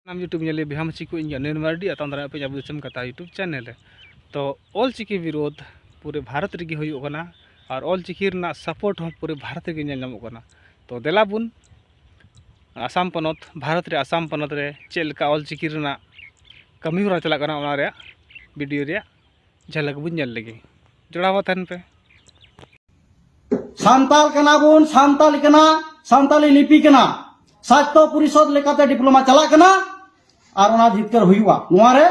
ᱱᱟᱢ ᱭᱩᱴᱩᱵᱽ ᱧᱮᱞᱮ ᱵᱮᱦᱟᱢ ᱪᱤᱠᱩ ᱤᱧ ᱜᱟᱱᱮᱱ ᱢᱟᱨᱰᱤ ᱟᱛᱟᱝ ᱫᱟᱨᱟᱭ ᱯᱮ ᱟᱵᱚ ᱫᱤᱥᱚᱢ ᱠᱟᱛᱷᱟ ᱭᱩᱴᱩᱵᱽ ᱪᱮᱱᱮᱞ ᱨᱮ ᱛᱚ ᱚᱞ ᱪᱤᱠᱤ ᱵᱤᱨᱳᱫᱷ ᱯᱩᱨᱟᱹ ᱵᱷᱟᱨᱚᱛ ᱨᱮᱜᱮ ᱦᱩᱭᱩᱜ ᱠᱟᱱᱟ ᱟᱨ ᱚᱞ ᱪᱤᱠᱤ ᱨᱮᱱᱟᱜ ᱥᱟᱯᱳᱨᱴ ᱦᱚᱸ ᱯᱩᱨᱟᱹ ᱵᱷᱟᱨᱚᱛ ᱨᱮᱜᱮ ᱧᱮᱞ ᱧᱟᱢᱚᱜ ᱠᱟᱱᱟ ᱛᱚ ᱫᱮᱞᱟ ᱵᱚᱱ ᱟᱥᱟᱢ ᱯᱚᱱᱚᱛ ᱵᱷᱟᱨᱚᱛ ᱨᱮ ᱟᱥᱟᱢ ᱯᱚᱱᱚᱛ ᱨᱮ ᱪᱮᱫ ᱞᱮᱠᱟ ᱚᱞ ᱪᱤᱠᱤ ᱨᱮᱱᱟᱜ ᱠᱟᱹᱢᱤ ᱦᱚᱨᱟ ᱪᱟᱞᱟᱜ ᱠᱟᱱᱟ ᱚᱱᱟ ᱨᱮᱭᱟᱜ ᱵᱷᱤᱰᱤᱭᱳ ᱨᱮᱭᱟᱜ ᱡᱷᱟᱞᱟᱠ ᱵᱚᱱ ᱧᱮᱞ ᱞᱮᱜᱮ ᱡᱚᱲᱟᱣ ᱛᱟᱦᱮᱱ ᱯᱮ ᱥᱟᱱᱛᱟᱞ ᱠᱟᱱᱟ ᱵᱚᱱ ᱥᱟᱱᱛᱟᱞ ᱠᱟᱱᱟ ᱥᱟᱱᱛᱟᱞᱤ ᱞᱤᱯᱤ ᱠᱟᱱᱟ ᱥᱟᱦᱤᱛᱭᱚ ᱯᱚᱨᱤᱥᱚᱫ ᱞᱮᱠᱟᱛᱮ ᱰᱤᱯᱞᱳᱢᱟ ᱪᱟᱞᱟᱜ ᱠᱟᱱᱟ ᱟᱨ ᱚᱱᱟ ᱡᱤᱛᱠᱟᱹᱨ ᱦᱩᱭᱩᱜᱼᱟ ᱱᱚᱣᱟ ᱨᱮ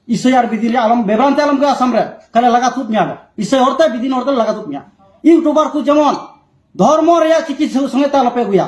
ᱤᱥᱟᱹᱭ ᱟᱨ ᱵᱤᱫᱤᱱ ᱟᱞᱚᱢ ᱵᱮᱵᱨᱟᱱᱛᱮ ᱟᱞᱚᱢ ᱜᱮ ᱟᱥᱟᱢ ᱨᱮ ᱠᱟᱞᱮ ᱞᱟᱜᱟ ᱛᱩᱫ ᱢᱮᱭᱟ ᱤᱥᱟᱹᱭ ᱦᱚᱲᱛᱮ ᱵᱤᱫᱤᱱ ᱦᱚᱲᱛᱮ ᱞᱟᱜᱟ ᱛᱩᱫ ᱢᱮᱭᱟ ᱤᱭᱩᱴᱩᱵᱟᱨ ᱠᱚ ᱡᱮᱢᱚᱱ ᱫᱷᱚᱨᱢᱚ ᱨᱮᱭᱟᱜ ᱪᱤᱠᱤ ᱥᱚᱸᱜᱮᱛᱮ ᱟᱞᱚᱯᱮ ᱟᱹᱜᱩᱭᱟ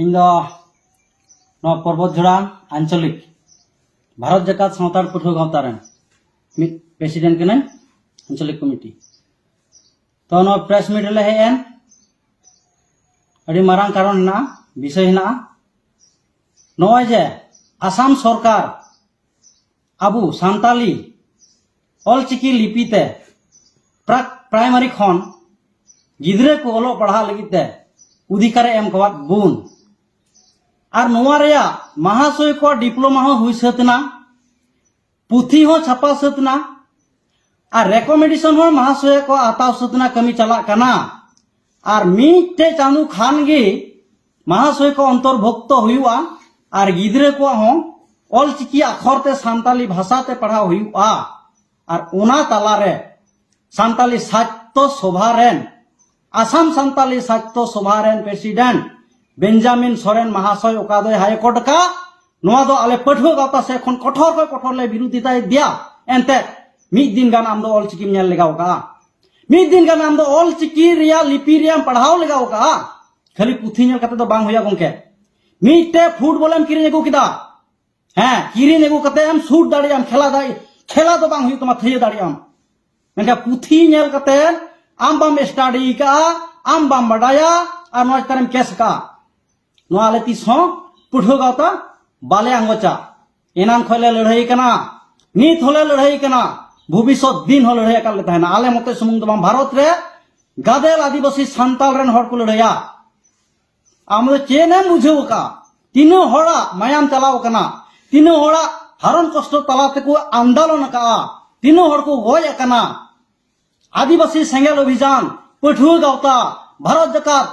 ᱤᱧ ᱫᱚ ᱱᱚᱣᱟ ᱯᱚᱨᱵᱚᱛ ᱡᱷᱚᱲᱟ ᱟᱧᱪᱚᱞᱤᱠ ᱵᱷᱟᱨᱚᱛ ᱡᱟᱠᱟᱛ ᱥᱟᱱᱛᱟᱲ ᱯᱟᱹᱴᱷᱩᱣᱟᱹ ᱜᱟᱶᱛᱟ ᱨᱮᱱ ᱢᱤᱫ ᱯᱨᱮᱥᱤᱰᱮᱱᱴ ᱠᱟᱹᱱᱟᱹᱧ ᱟᱧᱪᱚᱞᱤᱠ ᱠᱚᱢᱤᱴᱤ ᱛᱚ ᱱᱚᱣᱟ ᱯᱨᱮᱥ ᱢᱤᱴ ᱨᱮᱞᱮ ᱦᱮᱡ ᱮᱱ ᱟᱹᱰᱤ ᱢᱟᱨᱟᱝ ᱠᱟᱨᱚᱱ ᱦᱮᱱᱟᱜᱼᱟ ᱵᱤᱥᱚᱭ ᱦᱮᱱᱟᱜᱼᱟ ᱱᱚᱜᱼᱚᱭ ᱡᱮ ᱟᱥᱟᱢ ᱥᱚᱨᱠᱟᱨ ᱟᱵᱚ ᱥᱟᱱᱛᱟᱞᱤ ᱚᱞᱪᱤᱠᱤ ᱞᱤᱯᱤ ᱛᱮ ᱯᱨᱟᱠ ᱯᱨᱟᱭᱢᱟᱨᱤ ᱠᱷᱚᱱ ᱜᱤᱫᱽᱨᱟᱹ ᱠᱚ ᱚᱞᱚᱜ ᱯᱟᱲᱦᱟᱜ ᱞᱟᱹᱜᱤᱫ ᱛᱮ ᱚᱫᱷᱤᱠᱟᱨᱮ ᱮᱢ ᱠᱟᱣᱟᱫ ᱵᱚᱱ ᱟᱨ ᱱᱚᱣᱟ ᱨᱮᱭᱟᱜ ᱢᱟᱦᱟᱥᱚᱭ ᱠᱚ ᱰᱤᱯᱞᱳᱢᱟ ᱦᱚᱸ ᱦᱩᱭ ᱥᱟᱹᱛ ᱮᱱᱟ ᱯᱩᱛᱷᱤ ᱦᱚᱸ ᱪᱷᱟᱯᱟ ᱥᱟᱹᱛ ᱮᱱᱟ ᱟᱨ ᱨᱮᱠᱚᱢᱮᱱᱰᱮᱥᱚᱱ ᱦᱚᱸ ᱢᱟᱦᱟᱥᱚᱭ ᱠᱚ ᱦᱟᱛᱟᱣ ᱥᱟᱹᱛ ᱮᱱᱟ ᱠᱟᱹᱢᱤ ᱪᱟᱞᱟᱜ ᱠᱟᱱᱟ ᱟᱨ ᱢᱤᱫᱴᱮᱡ ᱪᱟᱸᱫᱚ ᱠᱷᱟᱱ ᱜᱮ ᱢᱟᱦᱟᱥᱚᱭ ᱠᱚ ᱚᱱᱛᱚᱨᱵᱷᱩᱠᱛᱚ ᱦᱩᱭᱩᱜᱼᱟ ᱟᱨ ᱜᱤᱫᱽᱨᱟᱹ ᱠᱚᱣᱟᱜ ᱦᱚᱸ ᱚᱞᱪᱤᱠᱤ ᱟᱠᱷᱚᱨ ᱛᱮ ᱥᱟᱱᱛᱟᱞᱤ ᱵᱷᱟᱥᱟ ᱛᱮ ᱯᱟᱲᱦᱟᱣ ᱦᱩᱭᱩᱜᱼᱟ ᱟᱨ ᱚᱱᱟ ᱛᱟᱞᱟ ᱨᱮ ᱥᱟᱱᱛᱟᱞᱤ ᱥᱟᱡᱽᱛᱚ ᱥᱚᱵᱷᱟ ᱨᱮᱱ ᱟᱥᱟᱢ ᱥᱟᱱᱛᱟᱞᱤ ᱥᱟᱡᱽᱛᱚ ᱥᱚᱵᱷᱟ ᱨᱮᱱ ᱯᱨᱮᱥᱤᱰᱮᱱᱴ ᱵᱮᱧᱡᱟᱢᱤᱱ ᱥᱚᱨᱮᱱ ᱢᱟᱦᱟᱥᱚᱭ ᱚᱠᱟ ᱫᱚᱭ ᱦᱟᱭ ᱠᱳᱨᱴ ᱠᱟ ᱱᱚᱣᱟ ᱫᱚ ᱟᱞᱮ ᱯᱟᱹᱴᱷᱩᱣᱟᱹ ᱜᱟᱶᱛᱟ ᱥᱮ ᱠᱷᱚᱱ ᱠᱚᱴᱷᱚᱨ ᱠᱷᱚᱱ ᱠᱚᱴᱷᱚᱨ ᱞᱮ ᱵᱤᱨᱳᱫᱷᱤᱛᱟᱭ ᱫᱮᱭᱟ ᱮᱱᱛᱮ ᱢᱤᱫ ᱫᱤᱱ ᱜᱟᱱ ᱟᱢ ᱫᱚ ᱚᱞᱪᱤᱠᱤᱢ ᱧᱮᱞ ᱞᱮᱜᱟᱣ ᱠᱟᱜᱼᱟ ᱢᱤᱫ ᱫᱤᱱ ᱜᱟᱱ ᱟᱢ ᱫᱚ ᱚᱞᱪᱤᱠᱤ ᱨᱮᱭᱟᱜ ᱞᱤᱯᱤ ᱨᱮᱭᱟᱜ ᱯᱟᱲᱦᱟᱣ ᱞᱮᱜᱟᱣ ᱠᱟᱜᱼᱟ ᱠᱷᱟᱹᱞᱤ ᱯᱩᱛᱷᱤ ᱧᱮᱞ ᱠᱟᱛᱮ ᱫᱚ ᱵᱟᱝ ᱦᱩᱭᱩᱜᱼᱟ ᱜᱚᱝᱠᱮ ᱢᱤᱫᱴᱮ ᱯᱷᱩᱴᱵᱚᱞᱮᱢ ᱠᱤᱨᱤᱧ ᱟᱹᱜᱩ ᱠᱮᱫᱟ ᱦᱮᱸ ᱠᱤᱨᱤᱧ ᱟᱹᱜᱩ ᱠᱟᱛᱮ ᱮᱢ ᱥᱩᱴ ᱫᱟᱲᱮᱭᱟᱜᱼᱟᱢ ᱠᱷᱮᱞᱟ ᱫᱟᱲᱮ ᱠᱷᱮᱞᱟ ᱫᱚ ᱵᱟᱝ ᱦᱩᱭᱩᱜ ᱛᱟᱢᱟ ᱛᱷᱟᱹᱭᱟᱹ ᱫᱟᱲᱮᱭᱟᱜᱼᱟᱢ ᱢᱮᱱᱠᱷᱟᱱ ᱯᱩᱛᱷᱤ ᱧᱮᱞ ᱠᱟᱛᱮ ᱟᱢ ᱵᱟᱢ ᱥᱴᱟᱰᱤ ᱠᱟᱜᱼᱟ ᱟᱢ ᱵᱟᱢ ᱵᱟᱰᱟᱭᱟ ᱟᱨ ᱱᱚᱣᱟ ᱪᱮᱛᱟᱱᱮᱢ ᱠᱮᱥ ᱠᱟᱜᱼᱟ ᱱᱚᱣᱟ ᱟᱞᱮ ᱛᱤᱥ ᱦᱚᱸ ᱯᱟᱹᱴᱷᱩᱣᱟᱹ ᱜᱟᱶᱛᱟ ᱵᱟᱞᱮ ᱟᱸᱜᱚᱪᱟ ᱮᱱᱟᱱ ᱠᱷᱚᱱ ᱞᱮ ᱞᱟᱹᱲᱦᱟᱹᱭ ᱠᱟᱱᱟ ᱱᱤᱛ ᱦᱚᱸᱞᱮ ᱞᱟᱹᱲᱦᱟᱹᱭ ᱠᱟᱱᱟ ᱵᱷᱚᱵᱤᱥᱚᱛ ᱫᱤᱱ ᱦᱚᱸ ᱞᱟᱹᱲᱦᱟᱹᱭ ᱟᱠᱟᱫ ᱞᱮ ᱛᱟᱦᱮᱱᱟ ᱟᱞᱮ ᱢᱚᱛᱮ ᱥᱩᱢᱩᱝ ᱫᱚ ᱵᱟᱝ ᱵᱷᱟᱨᱚᱛ ᱨᱮ ᱜᱟᱫᱮᱞ ᱟᱹᱫᱤᱵᱟᱹᱥᱤ ᱥᱟᱱᱛᱟᱲ ᱨᱮᱱ ᱦᱚᱲ ᱠᱚ ᱞᱟᱹᱲᱦᱟᱹᱭᱟ ᱟᱢ ᱫᱚ ᱪᱮᱫ ᱮᱢ ᱵᱩᱡᱷᱟᱹᱣ ᱟᱠᱟᱫ ᱛᱤᱱᱟᱹᱜ ᱦᱚᱲᱟᱜ ᱢᱟᱭᱟᱢ ᱪᱟᱞᱟᱣ ᱟᱠᱟᱱᱟ ᱛᱤᱱᱟᱹᱜ ᱦᱚᱲᱟᱜ ᱦᱟᱨᱚᱱ ᱠᱚᱥᱴᱚ ᱛᱟᱞᱟ ᱛᱮᱠᱚ ᱟᱱᱫᱳᱞᱚᱱ ᱟᱠᱟᱫᱼᱟ ᱛᱤᱱᱟᱹᱜ ᱦᱚᱲ ᱠᱚ ᱜᱚᱡ ᱟᱠᱟᱱᱟ ᱟᱹᱫᱤᱵᱟᱹᱥᱤ ᱥᱮᱸᱜᱮᱞ ᱚᱵᱷᱤᱡᱟᱱ ᱯᱟᱹᱴᱷᱩᱣᱟᱹ ᱜᱟᱶᱛᱟ ᱵᱷᱟᱨᱚᱛ ᱡᱟᱠᱟᱛ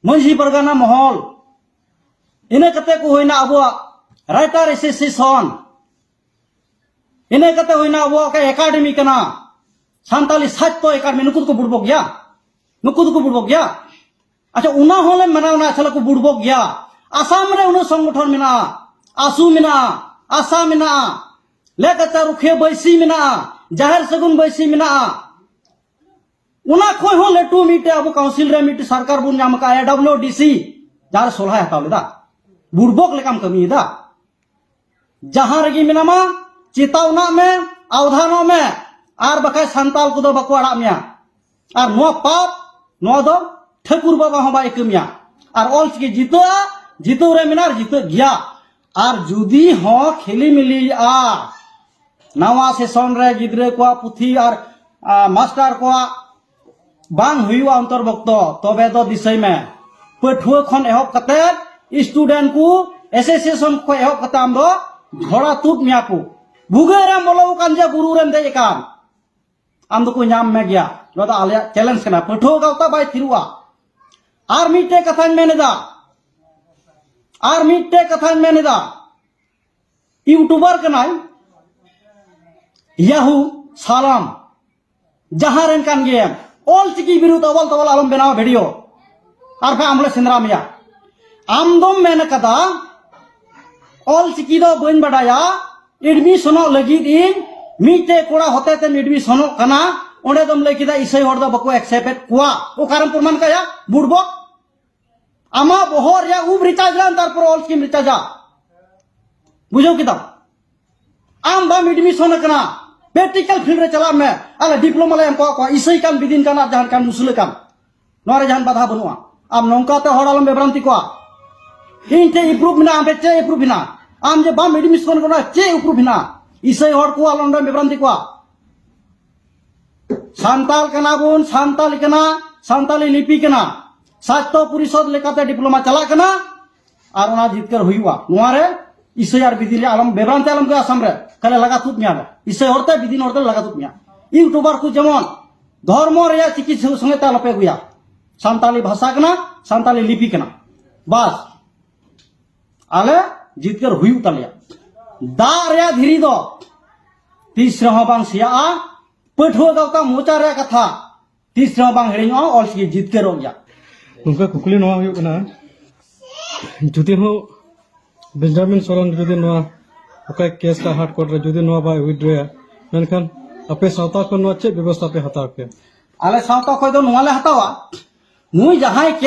ᱢᱟᱹᱡᱷᱤ ᱯᱟᱨᱜᱟᱱᱟ ᱢᱚᱦᱚᱞ ᱤᱱᱟᱹ ᱠᱟᱛᱮ ᱠᱚ ᱦᱩᱭᱱᱟ ᱟᱵᱚᱣᱟᱜ ᱨᱟᱭᱴᱟᱨ ᱮᱥᱳᱥᱤᱭᱮᱥᱚᱱ ᱤᱱᱟᱹ ᱠᱟᱛᱮ ᱦᱩᱭᱱᱟ ᱟᱵᱚᱣᱟᱜ ᱮᱠᱟᱰᱮᱢᱤ ᱠᱟᱱᱟ ᱥᱟᱱᱛᱟᱞᱤ ᱥᱟᱦᱤᱛᱭᱚ ᱮᱠᱟᱰᱮᱢᱤ ᱱᱩᱠᱩ ᱫᱚᱠᱚ ᱵᱩᱲᱵᱚᱜ ᱜᱮᱭᱟ ᱱᱩᱠᱩ ᱫᱚᱠᱚ ᱵᱩᱲᱵᱚᱜ ᱜᱮᱭᱟ ᱟᱪᱪᱷᱟ ᱚᱱᱟ ᱦᱚᱸᱞᱮ ᱢᱟᱱᱟᱣᱱᱟ ᱟᱪᱪᱷᱟ ᱠᱚ ᱵᱩᱲᱵᱚᱜ ᱜᱮᱭᱟ ᱟᱥᱟᱢ ᱨᱮ ᱩᱱᱟᱹᱜ ᱥᱚᱝᱜᱚᱴᱷᱚᱱ ᱢᱮᱱᱟᱜᱼᱟ ᱟᱥᱩ ᱢᱮᱱᱟᱜᱼᱟ ᱟᱥᱟ ᱢᱮᱱᱟᱜᱼᱟ ᱞᱮᱠᱟᱪᱟᱨ ᱨᱩᱠᱷᱤᱭᱟᱹ ᱵᱟᱹᱭᱥᱤ ᱢᱮᱱᱟᱜᱼᱟ ᱡᱟᱦᱮᱨ ᱥᱟᱹᱜᱩᱱ ᱵᱟᱹᱭᱥᱤ ᱢᱮᱱᱟᱜᱼᱟ ᱚᱱᱟ ᱠᱷᱚᱡ ᱦᱚᱸ ᱞᱟᱹᱴᱩ ᱢᱤᱫᱴᱮᱡ ᱟᱵᱚ ᱠᱟᱣᱩᱱᱥᱤᱞ ᱨᱮ ᱢᱤᱫᱴᱮᱡ ᱥᱚᱨᱠᱟᱨ ᱵᱚᱱ ᱧᱟᱢ ᱟᱠᱟᱫᱼᱟ ᱰᱟᱵᱞᱤᱭᱩ ᱰᱤ ᱥᱤ ᱡᱟᱦᱟᱸ ᱥᱚᱞᱦᱟᱭ ᱦᱟᱛᱟᱣ ᱞᱮᱫᱟ ᱵᱩᱲᱵᱚᱠ ᱞᱮᱠᱟᱢ ᱠᱟᱹᱢᱤᱭᱮᱫᱟ ᱡᱟᱦᱟᱸ ᱨᱮᱜᱮ ᱢᱮᱱᱟᱢᱟ ᱪᱮᱛᱟᱣᱱᱟᱜ ᱢᱮ ᱟᱣᱫᱷᱟᱱᱚᱜ ᱢᱮ ᱟᱨ ᱵᱟᱠᱷᱟᱡ ᱥᱟᱱᱛᱟᱞ ᱠᱚᱫᱚ ᱵᱟᱠᱚ ᱟᱲᱟᱜ ᱢᱮᱭᱟ ᱟᱨ ᱱᱚᱣᱟ ᱯᱟᱯ ᱱᱚᱣᱟ ᱫᱚ ᱴᱷᱟᱹᱠᱩᱨ ᱵᱟᱵᱟ ᱦᱚᱸ ᱵᱟᱭ ᱠᱟᱹᱢᱤᱭᱟ ᱟᱨ ᱚᱞᱪᱤᱠᱤ ᱡᱤᱛᱟᱹᱜᱼᱟ ᱡᱤᱛᱟᱹᱣ ᱨᱮ ᱢᱮᱱᱟᱜᱼᱟ ᱡᱤᱛᱟᱹᱜ ᱜᱮᱭᱟ ᱟᱨ ᱡᱩᱫᱤ ᱦᱚᱸ ᱠᱷᱤᱞᱤᱢᱤᱞᱤᱜᱼᱟ ᱱᱟᱣᱟ ᱥᱮᱥᱚᱱ ᱨᱮ ᱜᱤᱫᱽᱨᱟᱹ ᱠᱚᱣᱟᱜ ᱯᱩᱛᱷᱤ ᱟᱨ ᱢᱟᱥᱴᱟᱨ ᱠᱚᱣᱟᱜ ᱵᱟᱝ ᱦᱩᱭᱩᱜᱼᱟ ᱚᱱᱛᱚᱨᱵᱷᱩᱠᱛᱚ ᱛᱚᱵᱮ ᱫᱚ ᱫᱤᱥᱟᱹᱭ ᱢᱮ ᱯᱟᱹᱴᱷᱩᱣᱟᱹ ᱠᱷᱚᱱ ᱮᱦᱚᱵ ᱠᱟᱛᱮ ᱥᱴᱩᱰᱮᱱᱴ ᱠᱚ ᱮᱥᱳᱥᱤᱭᱮᱥᱚᱱ ᱠᱷᱚᱱ ᱮᱦᱚᱵ ᱠᱟᱛᱮ ᱟᱢ ᱫᱚ ᱡᱷᱚᱲᱟ ᱛᱩᱫ ᱢᱮᱭᱟ ᱠᱚ ᱵᱷᱩᱜᱟᱹᱜ ᱨᱮᱢ ᱵᱚᱞᱚ ᱟᱠᱟᱱ ᱡᱮ ᱵᱩᱨᱩ ᱨᱮᱢ ᱫᱮᱡ ᱟᱠᱟᱱ ᱟᱢ ᱫᱚᱠᱚ ᱧᱟᱢ ᱢᱮ ᱜᱮᱭᱟ ᱱᱚᱣᱟ ᱫᱚ ᱟᱞᱮᱭᱟᱜ ᱪᱮᱞᱮᱧᱡᱽ ᱠᱟᱱᱟ ᱯᱟᱹᱴᱷᱩᱣᱟᱹ ᱜᱟᱶᱛᱟ ᱵᱟᱭ ᱛᱷᱤᱨᱩᱜᱼᱟ ᱟᱨ ᱢᱤᱫᱴᱮᱡ ᱠᱟᱛᱷᱟᱧ ᱢᱮᱱᱮᱫᱟ ᱟᱨ ᱢᱤᱫᱴᱮᱡ ᱠᱟᱛᱷᱟᱧ ᱢᱮᱱᱮᱫᱟ ᱤᱭᱩᱴᱩᱵᱟᱨ ᱠᱟᱱᱟᱭ ᱭᱟᱦᱩ ᱥᱟᱞᱟᱢ ᱡᱟᱦᱟᱸ ᱨᱮᱱ ᱠᱟᱱ ᱜᱮᱭᱟᱢ ᱚᱞ ᱪᱤᱠᱤ ᱵᱤᱨᱩᱫᱽ ᱚᱵᱚᱞ ᱛᱚᱵᱚᱞ ᱟᱞᱚᱢ ᱵᱮᱱᱟᱣ ᱵᱷᱤᱰᱤᱭᱳ ᱟᱨ ᱵᱟᱝ ᱟᱢᱞᱮ ᱥᱮᱸᱫᱽᱨᱟ ᱢᱮᱭᱟ ᱟᱢ ᱫᱚᱢ ᱢᱮᱱ ᱠᱟᱫᱟ ᱚᱞ ᱪᱤᱠᱤ ᱫᱚ ᱵᱟᱹᱧ ᱵᱟᱰᱟᱭᱟ ᱮᱰᱢᱤᱥᱚᱱᱚᱜ ᱞᱟᱹᱜᱤᱫ ᱤᱧ ᱢᱤᱫᱴᱮᱡ ᱠᱚᱲᱟ ᱦᱚᱛᱮ ᱛᱮᱢ ᱮᱰᱢᱤᱥᱚᱱᱚᱜ ᱠᱟᱱᱟ ᱚᱸᱰᱮ ᱫᱚᱢ ᱞᱟᱹᱭ ᱠᱮᱫᱟ ᱤᱥᱟᱹᱭ ᱦᱚᱲ ᱫᱚ ᱵᱟᱠᱚ ᱮᱠᱥᱮᱯᱴᱮᱫ ᱠᱚᱣᱟ ᱚᱠᱟᱨᱮᱢ ᱯᱨᱚᱢᱟᱱ ᱠᱟᱭᱟ ᱵᱩᱲᱵᱚ ᱟᱢᱟᱜ ᱵᱚᱦᱚᱜ ᱨᱮᱭᱟᱜ ᱩᱵ ᱨᱤᱪᱟᱨᱡᱽ ᱞᱟᱱ ᱛᱟᱨᱯᱚᱨ ᱚᱞ ᱪᱤᱠᱤᱢ ᱨᱤᱪᱟᱨᱡᱟ ᱵᱩᱡᱷᱟᱹᱣ ᱠᱮᱫᱟᱢ ᱟᱢ ᱵᱟᱢ ᱮᱰᱢᱤᱥᱚᱱ ᱠᱟᱱᱟ ᱯᱨᱮᱠᱴᱤᱠᱟᱞ ᱯᱷᱤᱞᱰ ᱨᱮ ᱪᱟᱞᱟᱜ ᱢᱮ ᱟᱞᱮ ᱰᱤᱯᱞᱳᱢᱟ ᱞᱮ ᱮᱢ ᱠᱚᱣᱟ ᱤᱥᱟᱹᱭ ᱠᱟᱱ ᱵᱤᱫᱤᱱ ᱠᱟᱱ ᱟᱨ ᱡᱟᱦᱟᱱ ᱠᱟᱱ ᱢᱩᱥᱞᱟᱹ ᱠᱟᱱ ᱱᱚᱣᱟ ᱨᱮ ᱡᱟᱦᱟᱱ ᱵᱟᱫᱷᱟ ᱵᱟᱹᱱᱩᱜᱼᱟ ᱟᱢ ᱱᱚᱝᱠᱟᱛᱮ ᱦᱚᱲ ᱟᱞᱚᱢ ᱵᱮᱵᱨᱟᱱᱛᱤ ᱠᱚᱣᱟ ᱤᱧ ᱴᱷᱮᱱ ᱤᱯᱨᱩᱵᱷ ᱢᱮᱱᱟᱜᱼᱟ ᱟᱢ ᱴᱷᱮᱱ ᱪᱮᱫ ᱤᱯᱨᱩᱵᱷ ᱢᱮᱱᱟᱜᱼᱟ ᱟᱢ ᱡᱮ ᱵᱟᱢ ᱮᱰᱢᱤᱥᱚᱱ ᱠᱟᱱᱟ ᱪᱮᱫ ᱤᱯᱨᱩᱵᱷ ᱢᱮᱱᱟᱜᱼᱟ ᱤᱥᱟᱹᱭ ᱦᱚᱲ ᱠᱚ ᱟᱞᱚ ᱱᱚᱰᱮᱢ ᱵᱮᱵᱨᱟᱱᱛᱤ ᱠᱚᱣᱟ ᱥᱟᱱᱛᱟᱞ ᱠᱟᱱᱟ ᱵᱚᱱ ᱥᱟᱱᱛᱟᱞ ᱠᱟᱱᱟ ᱥᱟᱱᱛᱟᱞᱤ ᱞᱤᱯᱤ ᱠᱟᱱᱟ ᱥᱟᱦᱤᱛᱭᱚ ᱯᱚᱨᱤᱥᱚᱫ ᱞᱮᱠᱟᱛᱮ ᱰᱤᱯᱞᱳᱢᱟ ᱪᱟᱞᱟᱜ ᱠᱟᱱᱟ ᱟᱨ ᱚᱱᱟ ᱡᱤᱛᱠᱟᱹᱨ ᱦᱩᱭᱩᱜᱼᱟ ᱱᱚᱣᱟ ᱨᱮ ᱤᱥᱟᱹᱭ ᱟᱨ ᱵᱤᱫᱤᱱ ᱨᱮ ᱟᱞᱚᱢ ᱵᱮᱵᱨᱟᱱ ᱛᱮ ᱟᱞᱚᱢ ᱜᱮ ᱟᱥᱟᱢ ᱨᱮ ᱠᱟᱞᱮ ᱞᱟᱜᱟ ᱛᱩᱫ ᱢᱮᱭᱟ ᱤᱥᱟᱹᱭ ᱦᱚᱲᱛᱮ ᱵᱤᱫᱤᱱ ᱦᱚᱲᱛᱮ ᱞᱟᱜᱟ ᱛᱩᱫ ᱢᱮᱭᱟ ᱤᱭᱩᱴᱩᱵᱟᱨ ᱠᱚ ᱡᱮᱢᱚᱱ ᱫᱷᱚᱨᱢᱚ ᱨᱮᱭᱟᱜ ᱪᱤᱠᱤ ᱥᱚᱸᱜᱮ ᱛᱮ ᱟᱞᱚᱯᱮ ᱟᱹᱜᱩᱭᱟ ᱥᱟᱱᱛᱟᱞᱤ ᱵᱷᱟᱥᱟ ᱠᱟᱱᱟ ᱥᱟᱱᱛᱟᱞᱤ ᱞᱤᱯᱤ ᱠᱟᱱᱟ ᱵᱟᱥ ᱟᱞᱮ ᱡᱤᱛᱠᱟᱹᱨ ᱦᱩᱭᱩᱜ ᱛᱟᱞᱮᱭᱟ ᱫᱟᱜ ᱨᱮᱭᱟᱜ ᱫᱷᱤᱨᱤ ᱫᱚ ᱛᱤᱥ ᱨᱮᱦᱚᱸ ᱵᱟᱝ ᱥᱮᱭᱟᱜᱼᱟ ᱯᱟᱹᱴᱷᱩᱣᱟᱹ ᱜᱟᱶᱛᱟ ᱢᱚᱪᱟ ᱨᱮᱭᱟᱜ ᱠᱟᱛᱷᱟ ᱛᱤᱥ ᱨᱮᱦᱚᱸ ᱵᱟᱝ ᱦᱤᱲᱤᱧᱚᱜᱼᱟ ᱚᱞ ᱪᱤᱠᱤ ᱡᱤᱛᱠᱟᱹᱨᱚᱜ ᱜᱮᱭᱟ ᱱᱚᱝᱠᱟ ᱠᱩᱠᱞᱤ ᱱᱚᱣᱟ ᱦᱩᱭᱩᱜ ᱠᱟᱱᱟ ᱡᱩᱫᱤ ᱦᱚᱸ ᱵᱮᱧᱡᱟᱢᱤᱱ ᱥᱚᱨᱮᱱ ᱡᱩᱫᱤ ᱱᱚᱣᱟ ᱚᱠᱟ ᱠᱮᱥ ᱠᱟ ᱦᱟᱴ ᱠᱚᱨᱴ ᱨᱮ ᱡᱩᱫᱤ ᱱᱚᱣᱟ ᱵᱟᱭ ᱩᱭᱤᱰᱨᱚᱭᱟ ᱢᱮᱱᱠᱷᱟᱱ ᱟᱯᱮ ᱥᱟᱶᱛᱟ ᱠᱷᱚᱱ ᱱᱚᱣᱟ ᱪᱮᱫ ᱵᱮᱵᱚᱥᱛᱷᱟ ᱯᱮ ᱦᱟᱛᱟᱣ ᱠᱮᱭᱟ ᱟᱞᱮ ᱥᱟᱶᱛᱟ ᱠᱷᱚᱱ ᱫᱚ ᱱᱚᱣᱟ ᱞᱮ ᱦᱟᱛᱟᱣᱟ ᱱᱩᱭ ᱡᱟᱦᱟᱸᱭ ᱠᱮᱥ